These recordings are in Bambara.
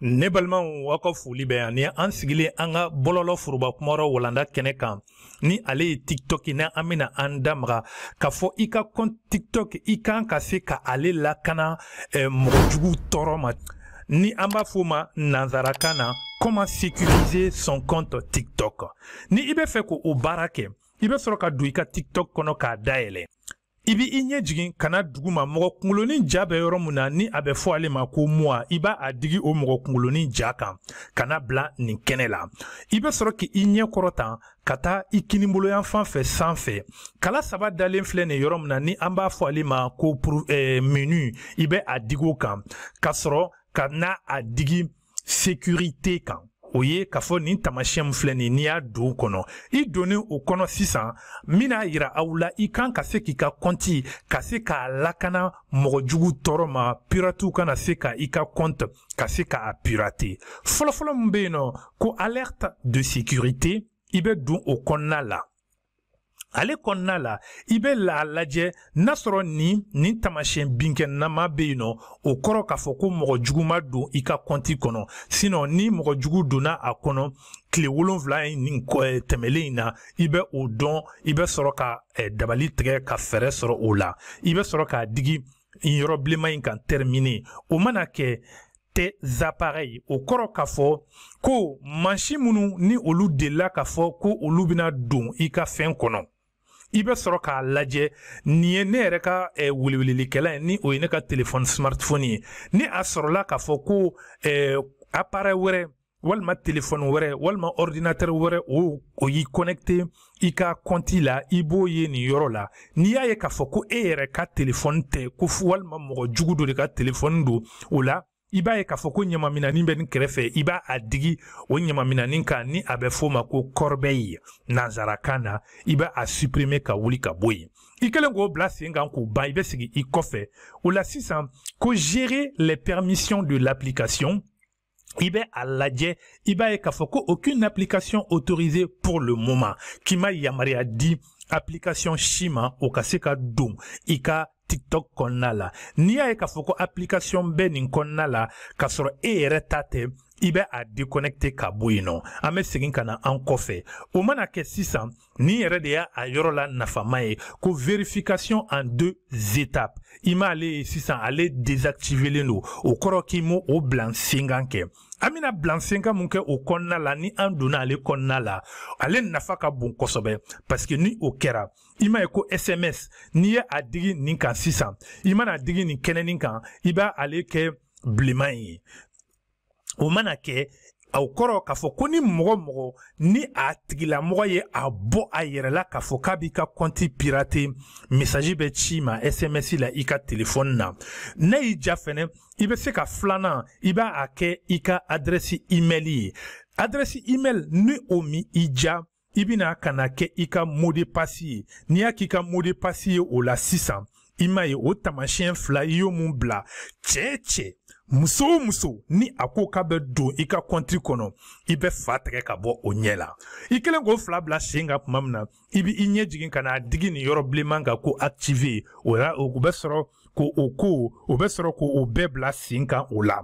ne balimaw aw ka foli bɛ yan ni an sigilen an ka bɔlɔlɔ foroba kumayɔrɔ walanda kɛnɛ kan ni ale ye tiktok na an bɛna an da maga k'a fɔ i ka compte tiktok i kan ka se ka ale lakana eh, mɔgɔ jugu tɔɔrɔ ma ni an b'a f'o ma nanzarakan na comment sécuriser son compte tiktok ni i b'a fɛ ka o baara kɛ i bɛ sɔrɔ ka don i ka tiktok kɔnɔ k'a dayɛlɛ i b'i ɲɛ jigin ka na duguma mɔgɔ kungolonin ja bɛ yɔrɔ min na ni a bɛ fɔ ale ma ko moi i b'a a digi o mɔgɔ kungolonin ja kan ka na bila nin kɛnɛ la i bɛ sɔrɔ k'i ɲɛ kɔrɔta ka taa i kiniboloyanfan fɛ sanfɛ kala saba dalen filɛ nin yɔrɔ min na ni an b'a fɔ ale ma ko eh, menu i bɛ a digi o kan ka sɔrɔ ka na a digi sécurité kan o ye k'a fɔ nin tamasiyɛn filɛ nin n'i y'a don kɔnɔ i donnen o kɔnɔ sisan n bɛna a yira aw la i kan ka se k'i ka kɔnti ka se k'a lakana mɔgɔ jugu tɔɔrɔ ma piratiw kana se ka i ka kɔnti ka se ka a pirater fɔlɔfɔlɔ min bɛ yen nɔ ko alerte de sécurité i bɛ don o kɔnɔna la ale kɔnɔna la i bɛ a lajɛ n'a sɔrɔ nin nin tamasiyɛn binkɛnama bɛ yen nɔ o kɔrɔ k'a fɔ ko mɔgɔ jugu ma don i ka kɔnti kɔnɔ sinon ni mɔgɔ jugu donna a kɔnɔ tile wolonfila in nin eh, tɛmɛlen in na i bɛ o dɔn i bɛ sɔrɔ ka eh, dabali tigɛ ka fɛɛrɛ sɔrɔ o la i bɛ sɔrɔ k'a digi yɔrɔ bilenman in kan terminer o mana kɛ tes appareils o kɔrɔ k'a fɔ ko mansin minnu ni olu delila k'a fɔ ko olu bɛna don i ka fɛn kɔnɔ i bɛ sɔrɔ k'a lajɛ nin ye ne yɛrɛ ka eh, welewelelikɛlan ye ni o ye ne ka telefɔni smartphone ye ni a sɔrɔla k'a fɔ ko eh, appareil wɛrɛ walima telefɔni wɛrɛ walima ɔridinatɛri wɛrɛ o o y'i kɔnɛkite i ka kɔnti la i b'o ye nin yɔrɔ la n'i y'a ye k'a fɔ ko e yɛrɛ ka telefɔni tɛ ko walima mɔgɔ jugu dɔ de ka telefɔni don o la i b'a ye k'a fɔ ko ɲamaminani bɛ nin kɛrɛfɛ i b'a a digi o ɲamaminani kan ni a bɛ f'o ma ko corbeille nansarakan na i bɛ a supprimer ka wuli ka bɔ yen i kɛlen k'o bila sen kan k'o ban i bɛ segin i kɔfɛ o la sisan ko gérer les permissions de l'application i bɛ a lajɛ i b'a ye k'a fɔ ko aucune application autorisée pour le moment k'i ma yamaruya di application si ma o ka se ka don i ka tiktok kɔnɔna la n'i y'a ye k'a fɔ ko application bɛ nin kɔnɔna la k'a sɔrɔ e yɛrɛ ta tɛ i bɛ a déconnecter ka bɔ yen nɔ an bɛ segin ka na an kɔfɛ o mana kɛ sisan Ni yɛrɛ de y'a a yɔrɔ la nafama ye ko vérification en deux étapes i m'ale ye sisan ale désactivelen don o kɔrɔ k'i m'o o bila sen kan kɛ an bɛna bila sen kan mun kɛ o kɔnɔna la ni an donna ale kɔnɔna la ale nafa ka bon kosɛbɛ parce que ni o kɛra i m'a ye ko sms n'i ye a digi nin kan sisan i mana digi nin kɛnɛ nin kan i b'a ale kɛ bilenman ye o mana kɛ o kɔrɔ k'a fɔ ko ni mɔgɔ mɔgɔ ni a tigilamɔgɔ ye a bɔ a yɛrɛ la k'a fɔ k'a b'i ka kɔnti pirater mesaji bɛ ci i ma sms la i ka telefɔni na n'a y'i ja fɛnɛ i bɛ se ka filanan i b'a a kɛ i ka adrɛsi email ye adrɛsi email ni o min i ja i bɛna ka na kɛ i ka mot de passe ye n'i y'a k'i ka mot de passe ye o la sisan i m'a ye o taamasiyɛn fila i y'o min bila cɛ o cɛ muso o muso ni a ko k'a bɛ don i ka kɔnti kɔnɔ i bɛ fa tigɛ ka bɔ o ɲɛ la i kɛlen k'o fila bila sen kan tuma min na i bɛ i ɲɛ jigin ka n'a digi nin yɔrɔ bilenman kan ko activer o la o bɛ sɔrɔ ko o ko o bɛ sɔrɔ ko o bɛɛ bila sen kan o la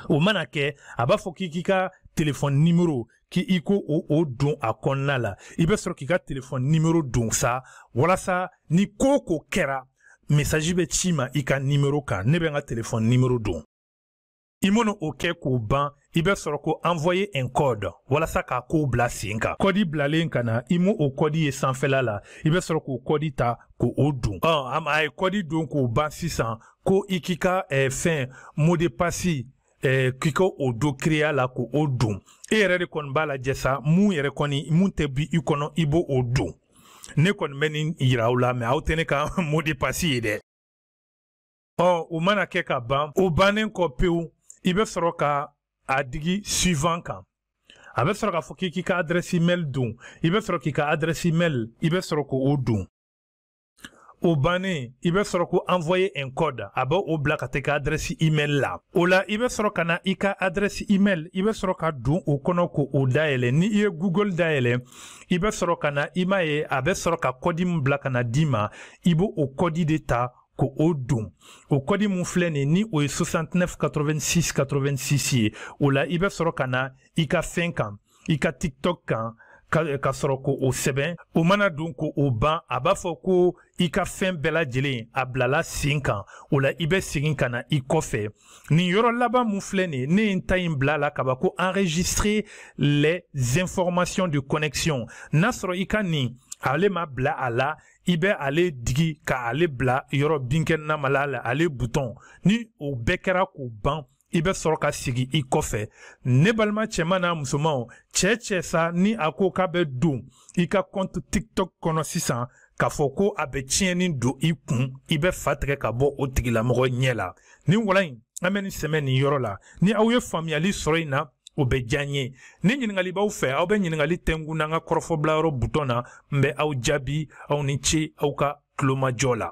o mana kɛ a b'a fɔ k'i k'i ka telefɔni nimero k'i i k'o o don a kɔnɔna la i bɛ sɔrɔ k'i ka telefɔni nimero don sa walasa ni ko o ko kɛra mesaji bɛ ci i ma i ka nimero kan ne bɛ n ka telefɔni nimero don i mana o kɛ k'o ban i bɛ sɔrɔ ko envoyer un code walasa k'a kow bila sen kan kɔdi bilalen ka na i m'o o kɔdi ye sanfɛla la i bɛ sɔrɔ k'o kɔdi ta k'o o don ɔ a ye kɔdi don k'o ban sisan ko i k'i ka eh, fɛn mot de passe eh, k'i ka o dɔ créer la k'o don e yɛrɛ de kɔni b'a lajɛ sa min yɛrɛ kɔni min tɛ bɔ i kɔnɔ i b'o o don ne kɔni bɛ nin yira aw la mais aw tɛ ne ka mot de passe ye dɛ ɔ o mana kɛ ka ban o bannen kɔ pewu i bɛ sɔrɔ ka a digi suivant kan a bɛ sɔrɔ k'a fɔ k'i k'i ka adrɛsi email don i bɛ sɔrɔ k'i ka adrɛsi email i bɛ sɔrɔ k'o don o bannen i bɛ sɔrɔ ko envoyer un code a bɛ o bila ka taa i ka adrɛsi email la o la i bɛ sɔrɔ ka na i ka adrɛsi email i bɛ sɔrɔ ka don o kɔnɔ k'o dayɛlɛ ni i ye google dayɛlɛ i bɛ sɔrɔ ka na i m'a ye a bɛ sɔrɔ ka kɔdi min bila ka na d'i ma i b'o o kɔdi de ta k'o don o kɔdi min filɛ nin ni o ye 69 86 86 ye o la i bɛ sɔrɔ ka na i ka fɛn kan i ka tiktok kan ka, ka sɔrɔ k'o sɛbɛn o mana don k'o ban a b'a fɔ ko i ka fɛn bɛɛ lajɛlen a bilala sen kan o la i bɛ segin ka na i kɔfɛ nin yɔrɔ laban min filɛ nin ye ne ye n ta in bila a la kaban ko enregistrer les informations de connexion n'a sɔrɔ i ka nin ale ma bila a la i bɛ ale digi ka ale bila yɔrɔ binkɛnɛnama la ale butɔn ni o bɛɛ kɛra k'o ban i bɛ sɔrɔ ka sigi i kɔfɛ ne balima cɛman n'a musomanw cɛ cɛ sa ni a ko k'a bɛ don i ka kɔnti tiktok kɔnɔ sisan k'a fɔ ko a bɛ tiɲɛni don i kun i bɛ fa tigɛ ka bɔ o tigilamɔgɔ ɲɛ la nin walan in an bɛ nin sɛmɛ nin yɔrɔ la ni aw ye faamuyali sɔrɔ in na o bɛ diya n ye ni ɲininkali b'aw fɛ aw bɛ ɲininkali kɛ n kun an ka kɔrɔfɔbilayɔrɔ butɔn na n bɛ aw jaabi aw ni ce aw ka tulomajɔ la